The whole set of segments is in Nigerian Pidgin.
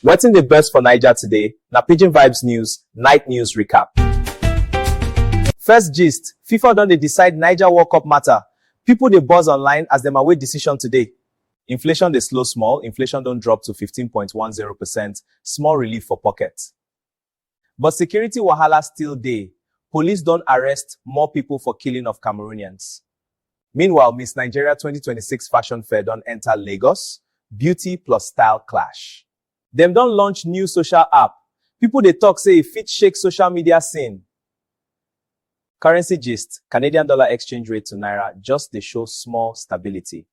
Wetin dey burst for Naija today na Pidgin Vibes News Night News Recap. First gist, FIFA don dey decide Naija World Cup matter, people dey buzz online as dem await decision today. Inflation dey slow small, inflation don drop to fifteen point one zero percent, small relief for pocket. But security wahala still dey, police don arrest more people for killing of Cameroonians. Meanwhile, Miss Nigeria twenty twenty six fashion fair don enter Lagos, beauty plus style clash. Dem don launch new social app, people dey talk say e fit shake social media scene. Currency gist, Canadian dollar exchange rate to naira just dey show small stability.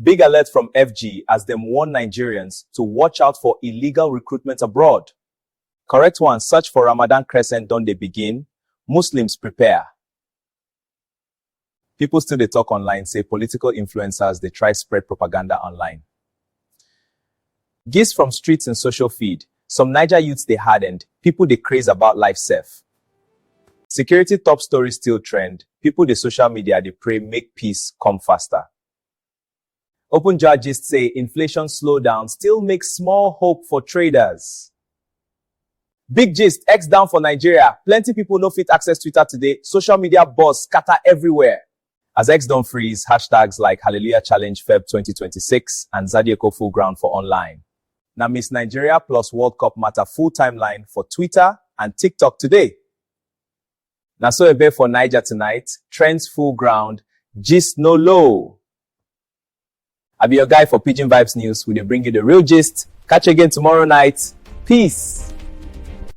Big alert from FG as dem warn Nigerians to watch out for illegal recruitment abroad. Correct one search for Ramadan crescent don dey begin, Muslims prepare. People still dey talk online say political influencers dey try spread propaganda online. Gist from streets and social feed, Some Naija youths dey hardened, people dey craze about life sef. Security top story still trend, people dey social media dey pray make peace come faster. Open jar gist say inflation slowdown still make small hope for traders. Big gist, X down for Nigeria, plenty people no fit access Twitter today, social media buzz scatter everywhere. As X don freeze hashtags like Hallelujah Challenge Feb twenty twenty six and Zadyeko Full Ground for online. Na Miss Nigeria plus World Cup matter full timeline for Twitter and TikTok today. Na so e be for Niger tonight, trends full ground, gist no low. I be your guy for Pidgin Vibes News. We dey bring you the real gist. Catch you again tomorrow night. Peace.